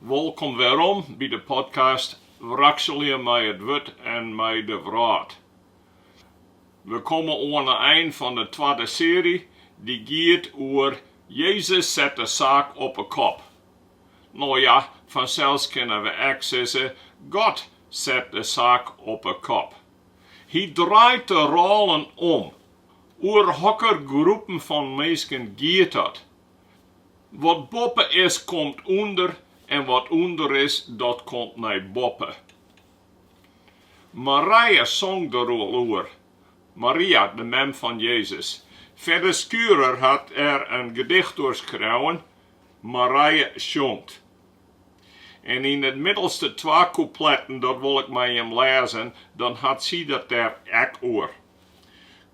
Wolkom werom by de podcast Wrakselje mei it wurd en mei de wrâld. We komme oan 'e ein fan 'e twadde seary, dy giet oer Jezus set de saak op 'e kop. No ja, fansels kinne we ek sizze God set de saak op 'e kop. Hy draait de rôlen om. Oer hokker groepen fan minsken giet dat? Wat boppe is, komt ûnder en wat ûnder is, dat komt nei boppe. Marije song der al oer, Maria, de mem fan Jezus. Fedde Schurer hat der in gedicht oer skreaun, Marije sjongt. En yn 'e middelste twa koepletten, dat wol ik mei jim lêzen, dan hat sy it dêr ek oer.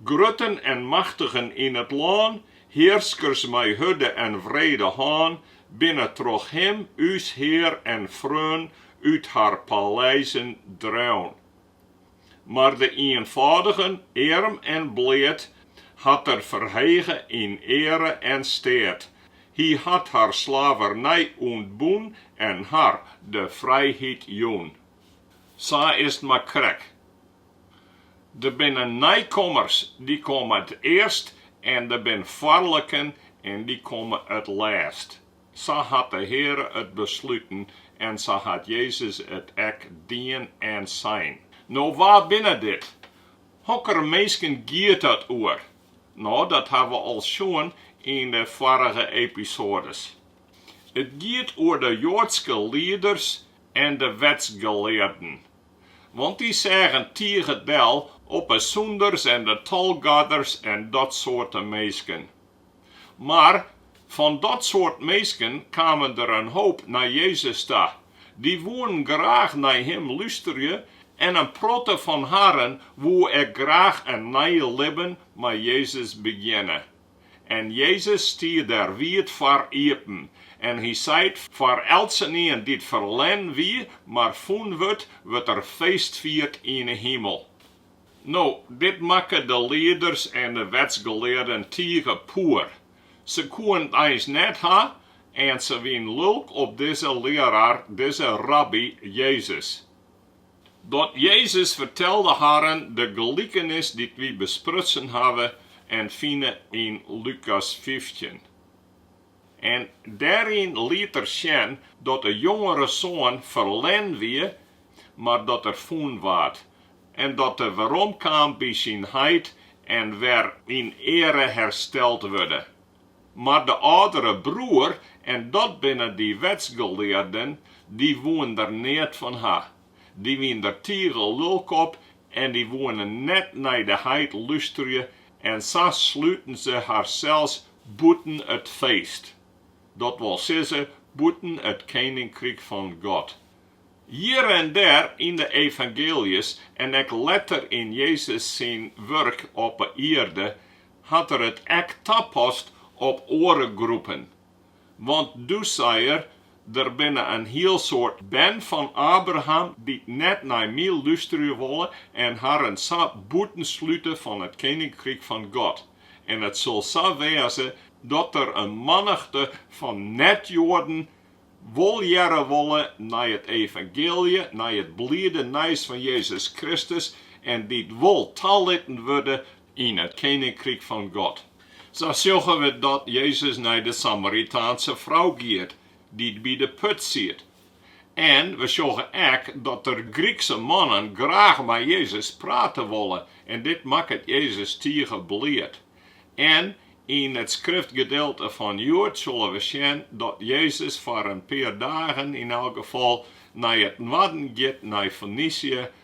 Grutten en machtigen yn it lân, hearskers mei hurde en wrede hân, binne troch him, ús Hear en Freon, út har paleizen dreaun. Mar de ienfâldigen, earm en bleat, hat er ferhege yn eare en steat. Hy hat har slavernij ûntbûn en har de frijheid jûn. Sa is 't mar krekt. Der binne nijkommers dy komme it earst en der bin foarliken en dy komme it lêst. Sa hat de Heare it besluten en sa hat Jezus it ek dien en sein. No wa binne dit? Hokker minsken giet it oer? No dat ha we al sjoen yn de foarige episoades. It giet oer de joadske lieders en de wetsgelearden. Want dy seagen tige del op 'e sûnders en de tolgarders en dat soart minsken. Mar fan dat soart minsken kamen der in hoop nei Jezus ta. Dy woenen graach nei Him lústerje en in protte fan harren woe ek graach in nij libben mei Jezus begjinne. En Jezus stie der wiid foar iepen, en hy seit, Foar eltsenien dy't ferlern wie, mar fûn wurdt, wurdt der feestfierd yn 'e himel. No, dit makke de lieders en de wetsgelearden tige poer. Se koenen it eins net ha, en se wienen lulk op dizze learaar, dizze rabby, Jezus. Dat Jezus fertelde harren de gelikenis dy't wy besprutsen hawwe en fine yn Lukas fyftjin. En dêryn liet er sjen dat de jongere soan ferlern wie, mar dat er fûn waard, en dat er weromkaam by syn heit en wer yn eare hersteld wurde. mar de âldere broer, en dat binne dy wetsgelearden, dy woene der neat fan ha. Dy wiene der tige lulk op en dy woene net nei de heit lústerje en sa sluten se harsels bûten it feest, dat wol sizze, bûten it keninkryk fan God. Hjir en dêr yn de evangeeljes en ek letter yn Jezus syn wurk op 'e ierde hat er it ek tapast op oare groepen, want doe sei er, Der binne in hiel soad bern fan Abraham dy't net nei my lústerje wolle en harren sa bûtenslute fan it keninkryk fan God. En it sil sa wêze, dat der in mannichte fan net-Joaden wol hearre wolle nei it evangeelje, nei it bliede nijs fan Jezus Kristus, en dy't wol talitten wurde yn it keninkryk fan God. Sa sjogge we dat Jezus nei de Samaritaanse frou giet dy't by de put siet. En we sjogge ek dat der Grykse mannen graach mei Jezus prate wolle en dit makket Jezus tige bliid. En yn it skriftgedeelte fan hjoed sille we sjen dat Jezus foar in pear dagen yn elk gefal nei it noarden giet, nei Fenysje,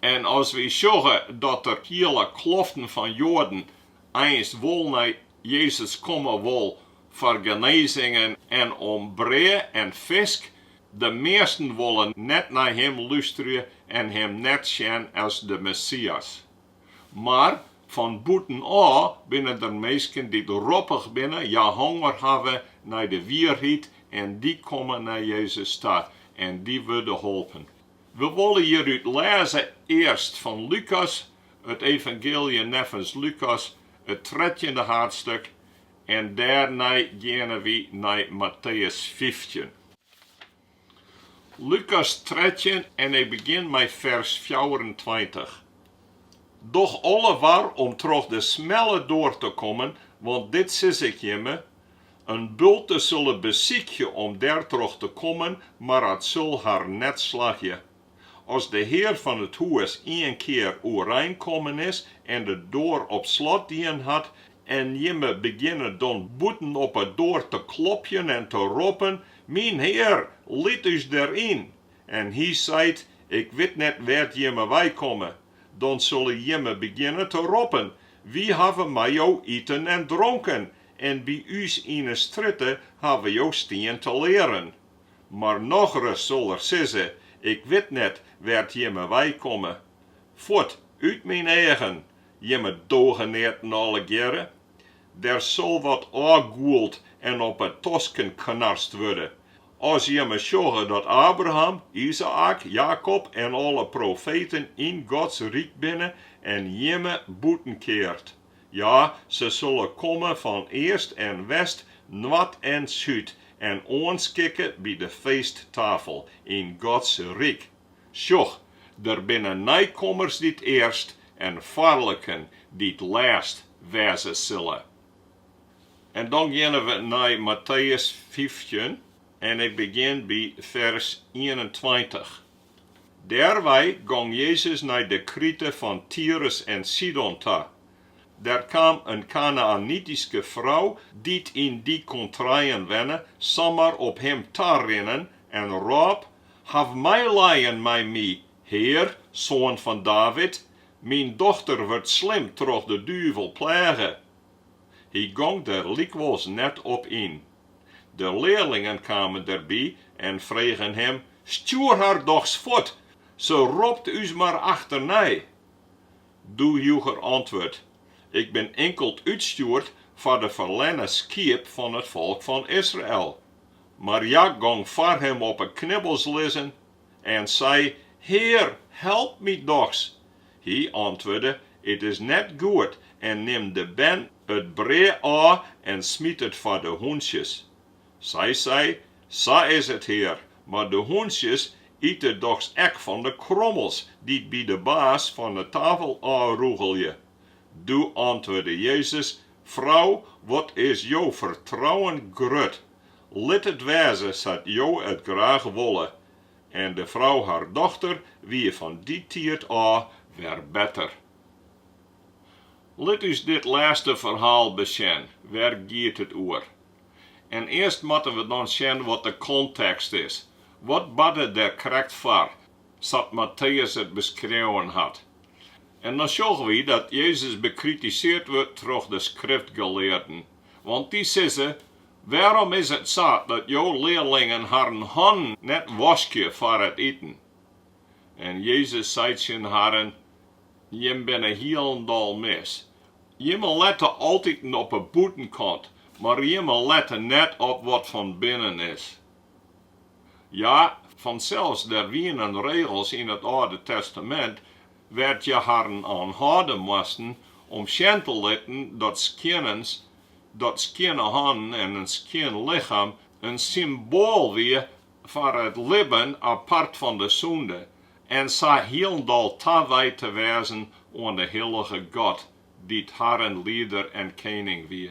En as wy sjogge dat der hiele kloften fan Joaden einst wol nei Jezus komme wol foar genezingen en om brea en fisk, de measten wolle net nei Him lústerje en Him net sjen as de Messias. Mar fan bûtenôf binne der minsken dy't roppich binne, ja honger hawwe nei de wierheid en dy komme nei Jezus ta en dy wurde holpen. We wolle hjirút lêze earst fan Lukas, it Evangeelje neffens Lukas, it trettjinde haadstik, en dêrnei geane wy nei Matteus fyftjin. Lukas trettjin en ik begjin mei fers fjouwerentweintich. Doch alle war om troch de smelle doar te kommen, want dit sis ik jimme, In bulte sulle besykje om dêr troch te kommen, mar it sul har net slagje. As de hear fan it hûs ien kear oerein kommen is en de doar op slot dien hat, en jimme begjinne dan bûten op 'e doar te klopjen en te roppen, Myn hear, lit ús der yn! en hy seit, Ik wit net wêr't jimme wei komme, dan sulle jimme begjinne te roppen, Wy hawwe mei jo iten en dronken, en by ús yn 'e strjitte hawwe jo stien te learen. Mar nochris sil er sizze, Ik wit net wêr't jimme wei komme. Fuort, út myn eagen, jimme dogeneaten allegearre! Der sil wat ôfgûld en op 'e tosken knarst wurde, as jimme sjogge dat Abraham, Izaäk, Jakob en alle profeten yn Gods ryk binne en jimme bûtenkeard. Ja, se solle komme fan east en west, noard en súd en oanskikke by de feesttafel yn Gods ryk. Sjoch, der binne neikommers dy't earst en foarliken dy't lêst wêze sille. En dan geane we nei Matteüs fyftjin en ik begjin by fers ienentweintich. Dêrwei gong Jezus nei de krite fan Tirus en Sidon ta. Der kaam in Kanaänityske frou dy't yn dy kontreien wenne samar op him ta rinnen en rôp, Haw meilijen mei my, Hear, Soan fan David, myn dochter wurdt slim troch de duvel pleage. Hy gong der lykwols net op yn. De learlingen kamen derby en fregen him, Stjoer har dochs fuort, se ropt ús mar achternei! Doe joech er antwurd, Ik bin inkeld útstjoerd foar de ferlerne skiep fan it folk fan Israel. Mar hja gong foar him op 'e knibbels lizzen En sei, Hear, help my dochs! Hy antwurde, It is net goed, en nim de bern it brea ôf en smyt it foar de hûntsjes. Sy sei, Sa is it, Hear, mar de hûntsjes ite dochs ek fan de krommels dy't by de baas fan 'e tafel ôfrûgelje. Doe antwurde Jezus, Frou, wat is jo fertrouwen grut! Lit it wêze sa't jo it graach wolle. En de frou har dochter wie fan dy tiid ôf wer better. Lit ús dit lêste ferhaal besjen, wêr giet it oer? En earst moatte we dan sjen wat de kontekst is. Wat barde der krekt foar, sa't Matteüs it beskreaun hat? En dan sjogge wy dat Jezus bekritiseard wurdt troch de skriftgelearden. Want dy sizze, Wêrom is it sa dat jo learlingen harren hannen net waskje foar it iten? En Jezus sei tsjin harren, Jim binne hielendal mis. Jimme lette altiten op 'e bûtenkant, mar jimme lette net op wat fan binnen is. Ja, fansels, der wienen regels yn it Alde Testamint wêr't je harren oan hâlde moasten om sjen te litten dat skjinne hannen en in skjin lichem in symboal wie foar it libben apart fan de sûnde en sa hielendal tawijd te wêzen oan de hillige God, dy't harren Lieder en Kening wie.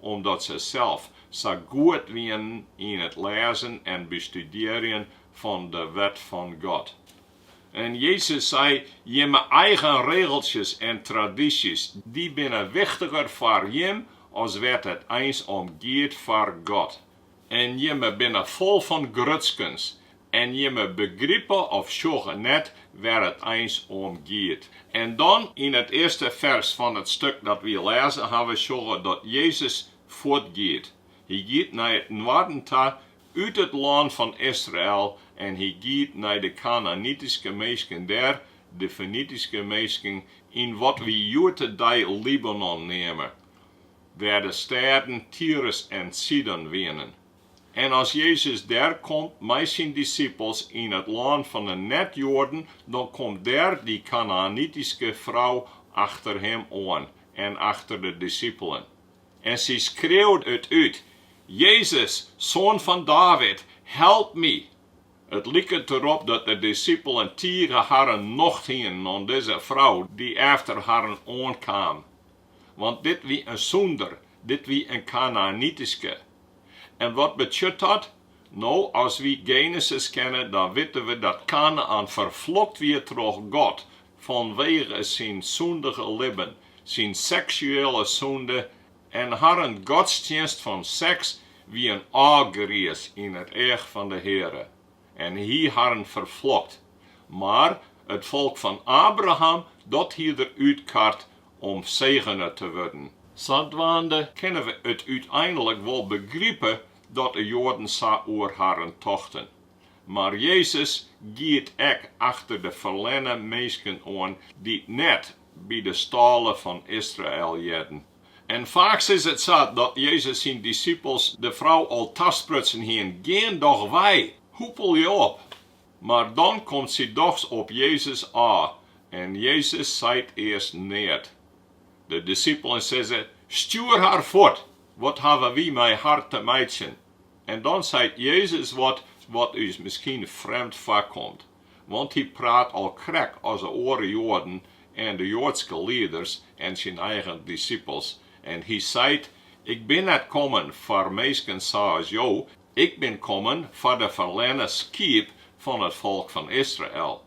omdat se sels sa goed wienen yn it lêzen en bestudearjen fan de Wet fan God. En Jezus sei jimme eigen regeltsjes en tradysjes, dy binne wichtiger foar jim as wêr't it eins om giet foar God. En jimme binne fol fan grutskens en jimme begripe of sjogge net wêr it eins om giet. En dan yn it earste fers fan it stuk dat wy lêzen hawwe sjogge dat Jezus fuortgiet. Hy giet nei it noarden ta, út it lân fan Israel, en hy giet nei de Kanaänityske minsken dêr, de Fenityske minsken, yn wat wy hjoed-de-dei Libanon neame, wêr de stêden Tyrus en Sidon wienen. En as Jezus dêr komt mei syn disipels yn it lân fan 'e net-Joaden, dan komt dêr dy Kanaänityske frou achter him oan en achter de disipelen. En sy skreauwt it út, Jezus, Soan fan David, help my! It liket derop dat de disipelen tige harren nocht hienen oan dizze frou dy't efter harren oankaam. want dit wie in sûnder, dit wie in Kanaänityske. En wat betsjut dat? No, as wy Genesis kenne, dan witte we dat Kanaän ferflokt wie troch God fanwege syn sûndige libben, syn seksuele sûnde en harren godstsjinst fan seks wie in ôfgriis yn it each fan de Heare. en hie harren ferflokt, mar it folk fan Abraham, dat hie er útkard om segene te wurden. Sadwaande kinne we it úteinlik wol begripe dat de Joaden sa oer harren tochten. Mar Jezus giet ek achter de ferlerne minsken oan dy't net by de stâle fan Israel hearden. En faaks is it sa dat Jezus syn disipels de frou al tasprutsen hiene, Gean doch wei, hoepel je op! Mar dan komt sy dochs op Jezus ôf en Jezus seit earst neat. De disipelen sizze, Stjoer har fuort, wat hawwe wy mei har te meitsjen? En dan seit Jezus wat, wat ús miskien frjemd foarkomt. want hy praat al krek as de oare Joaden en de joadske lieders en syn eigen dissipels, en hy seit, Ik bin net kommen foar minsken sa as jo, ik bin kommen foar de ferlerne skiep fan it folk fan Israel.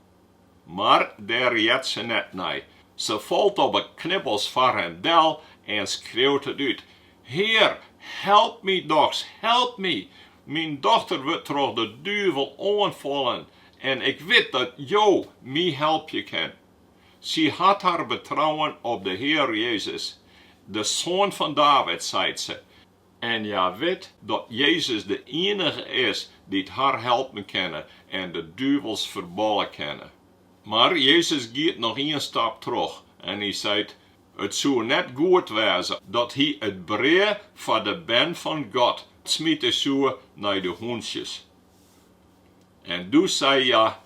Mar dêr heart se net nei. Se falt op 'e knibbels foar him del en skreeuwt it út, Hear, help my dochs, help my! Myn dochter wurdt troch de duvel oanfallen en ik wit dat Jo my helpe kinne. Sy hat har betrouwen op de Hear Jezus, de Soan fan David, seit se, en hja wit dat Jezus de ienige is dy't har helpe kin en de duvels ferbalje kin. Mar Jezus giet noch ien stap troch en hy seit, It soe net goed wêze dat hy it brea foar de bern fan God smite soe nei de hûntsjes. En doe sei hja,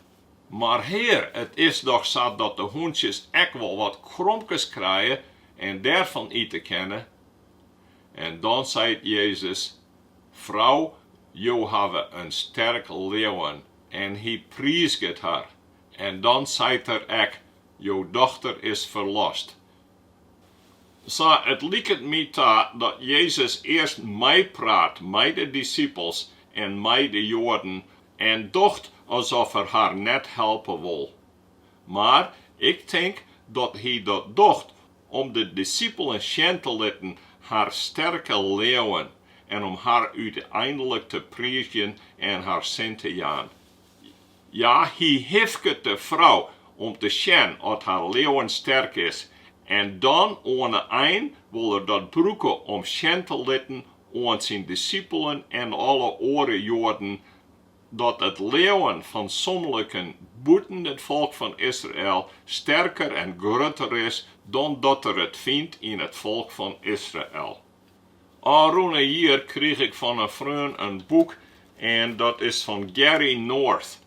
Mar Hear, it is dochs sa dat de hûntsjes ek wol wat kromkes krije en dêrfan ite kinne. En dan seit Jezus, Frou, jo hawwe in sterk leauwen. En hy priizget har. En dan seit er ek, Jo dochter is ferlost. Sa, it liket my ta dat Jezus earst meipraat mei de dissipels en mei de Joaden en docht as oft er har net helpe wol. Mar ik tink dat hy dat docht om de dissipelen sjen te litten har sterke leauwen en om har úteinlik te priizjen en har sin te jaan. Ja, hy hifket de frou om te sjen oft har leauwen sterk is, en dan oan 'e ein wol er dat brûke om sjen te litten oan syn dissipelen en alle oare Joaden, dat it leauwen fan somliken bûten it folk fan Israel sterker en grutter is dan dat er it fynt yn it folk fan Israel. Ofrûne jier krige ik fan in freon in boek en dat is fan Gary North.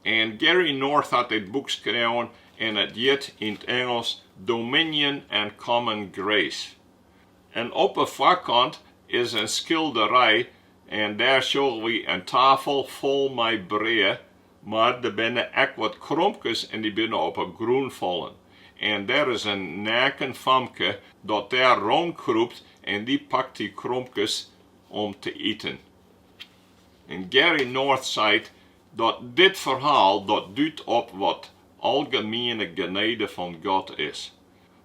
En Gary North hat dit boek skreaun en it hjit yn 't Ingelsk Dominion and Common Grace. En op 'e foarkant is in skilderij en dêr sjogge wy in tafel fol mei brea Mar der binne ek wat kromkes en dy binne op 'e grûn fallen. En der is in neaken famke dat dêr rûnkrûpt en dy pakt dy kromkes om te iten. En Gary North seit dat dit ferhaal dat dút op wat algemiene genede fan God is.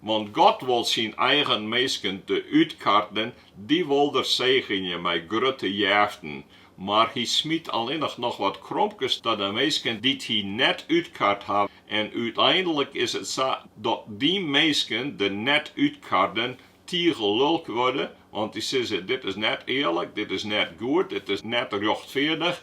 Want God wol syn eigen minsken de útkarden, dy wol er segenje mei grutte jeften, mar hy smyt allinnich noch wat kromkes ta de minsken dy't hy net útkart ha, en úteinlik is it sa dat dy minsken, de net útkarden, tige lulk wurde, want dy sizze, Dit is net earlik, dit is net goed, dit is net rjochtfeardich,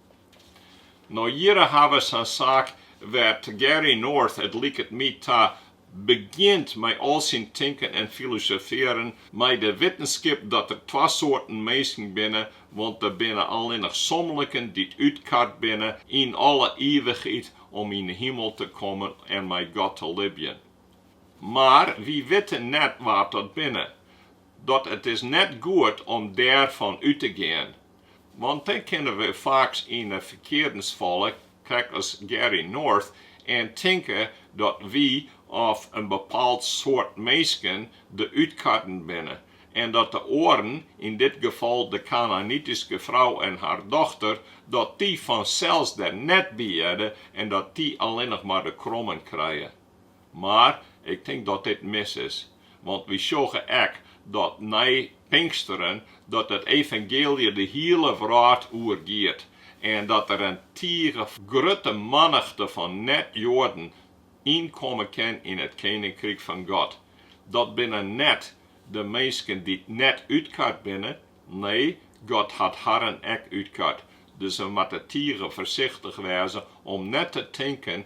Nei jierren hawwe se in saak wêr't Gary North, it liket my ta, begjint mei al syn tinken en filosofearjen mei de wittenskip dat der twa soarten minsken binne, want der binne allinnich somliken dy't útkard binnen yn alle ivichheid om yn 'e himel te kommen en mei God te libjen. Mar wy witte net wa't dat binne. Dat it is net goed om dêrfan út te gean. Want dan kinne we faaks yn 'e ferkeardens falle, krekt as Gary North, en tinke dat wy of in bepaald soart minsken de útkarden binne en dat de oaren, yn dit gefal de Kanaanityske frou en har dochter, dat dy fansels der net by hearde en dat dy allinnich mar de krommen krije. Mar ik tink dat dit mis is, want wy sjogge ek dat nei Pinksteren dat it evangeelje de hiele wrâld oer giet en dat der in tige grutte mannichte fan net-Joaden ynkomme kin yn it keninkryk fan God. Dat binne net de minsken dy't net útkard binne, nee, God hat harren ek útkard. Dus we moatte tige foarsichtich wêze om net te tinken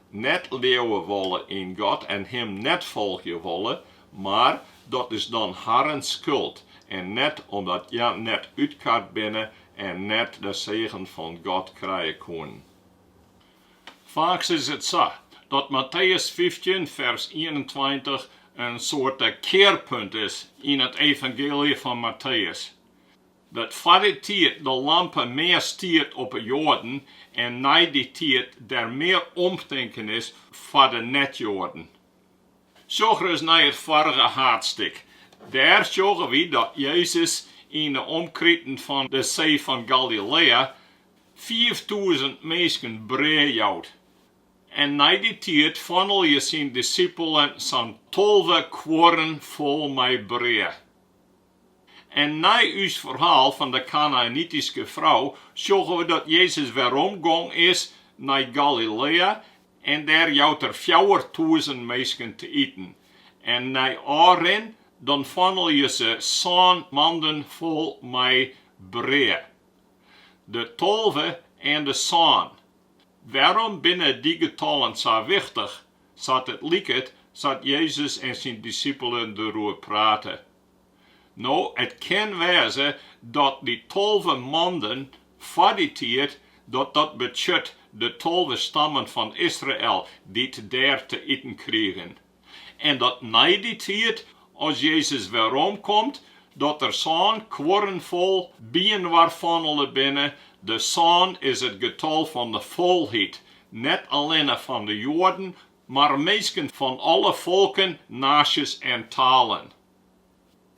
net leauwe wolle yn God en Him net folgje wolle, mar dat is dan harren skuld en net omdat hja net útkard binne en net de segen fan God krije koenen. Faaks is it sa dat Matteüs fyftjin fers ienentweintich in soarte kearpunt is yn it evangeelje fan Matteüs. Dat foar dy tiid de lampe mear stiet op 'e Joaden en nei dy tiid der mear omtinken is foar de net-Joaden. Sjoch ris nei it foarige haadstik. Dêr sjogge wy dat Jezus yn 'e omkriten fan de See fan Galilea fiiftûzen minsken brea jout. En nei dy tiid fannelje syn dissipelen sa'n tolve kuorren fol mei brea. En nei ús ferhaal fan de Kanaänityske frou sjogge we dat Jezus weromgong is nei Galilea en dêr jout er fjouwertûzen minsken te iten. En nei ôfrin dan fannelje se sân manden fol mei brea. De tolve en de sân, wêrom binne dy getallen sa wichtich? Sa't it liket, sa't Jezus en syn disippelen deroer prate. No, it kin wêze dat dy tolve manden foar dy tiid, dat dat betsjut dat de tolve stammen fan Israel dy't dêr te iten krigen. En dat nei dy tiid, as Jezus weromkomt, dat der sân kuorren fol byinoar fandele binne, de sân is it getal fan de folheid net allinne fan de Joaden, mar minsken fan alle folken, naasjes en talen.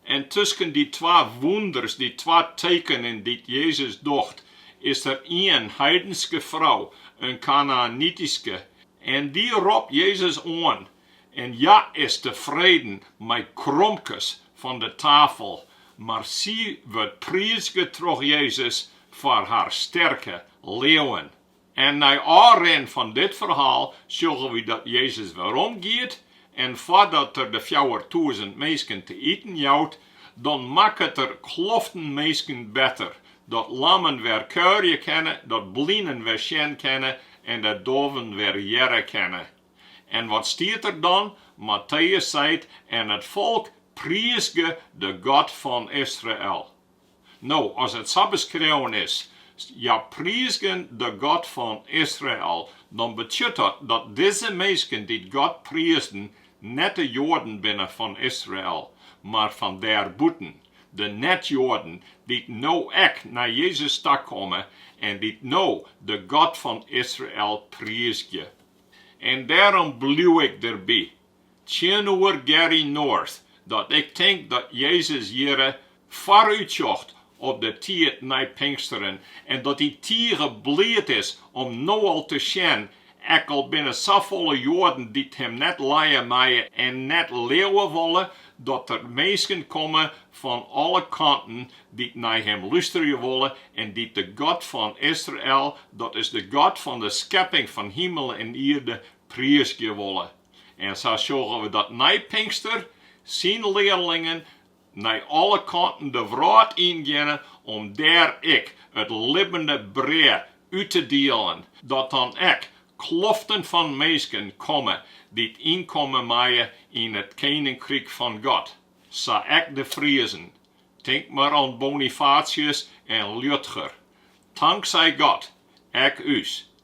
En tusken dy twa wûnders, dy twa tekenen dy't Jezus docht, is der ien heidenske frou, in Kanaänityske, en dy ropt Jezus oan en hja is tefreden mei kromkes fan de tafel, mar sy wurdt priizge troch Jezus foar har sterke leauwen. En nei ôfrin fan dit ferhaal sjogge wy dat Jezus werom giet en foardat er de fjouwertûzen minsken te iten jout, dan makket er kloften minsken better, dat lammen wer kuierje kinne, dat blinen wer sjen kinne en dat doaven wer hearre kinne. En wat stiet der dan? Matteus seit, En it folk priizge de God fan Israel. No, as it sa beskreaun is, Hja priizgen de God fan Israel, dan betsjut it dat dizze minsken dy't God priizden net de Joaden binne fan Israel, mar fan dêrbûten, de net-Joaden dy't no ek nei Jezus takomme en dy't no de God fan Israel priizgje. En dêrom bliuw ik derby, Tsjinoer Gary North dat ik tink dat Jezus hjirre foarútsjocht op de tiid nei Pinksteren en dat hy tige bliid is om no al te sjen, ek al binne der safolle Joaden dy't him net lije meie en net leauwe wolle, dat der minsken komme fan alle kanten dy't nei him lústerje wolle en dy't de God fan Israel, dat is de God fan de skepping fan himel en ierde, Priizgje wolle. En sa sjogge we dat nei Pinkster syn learlingen nei alle kanten de wrâld yn geane om dêr ek it libbene brea út te dielen, dat der dan ek kloften fan minsken komme dy't ynkomme meie yn it Keninkryk fan God, sa ek de Friezen. Tink mar oan Bonifatius en Liudger. Tanksij God, ek ús,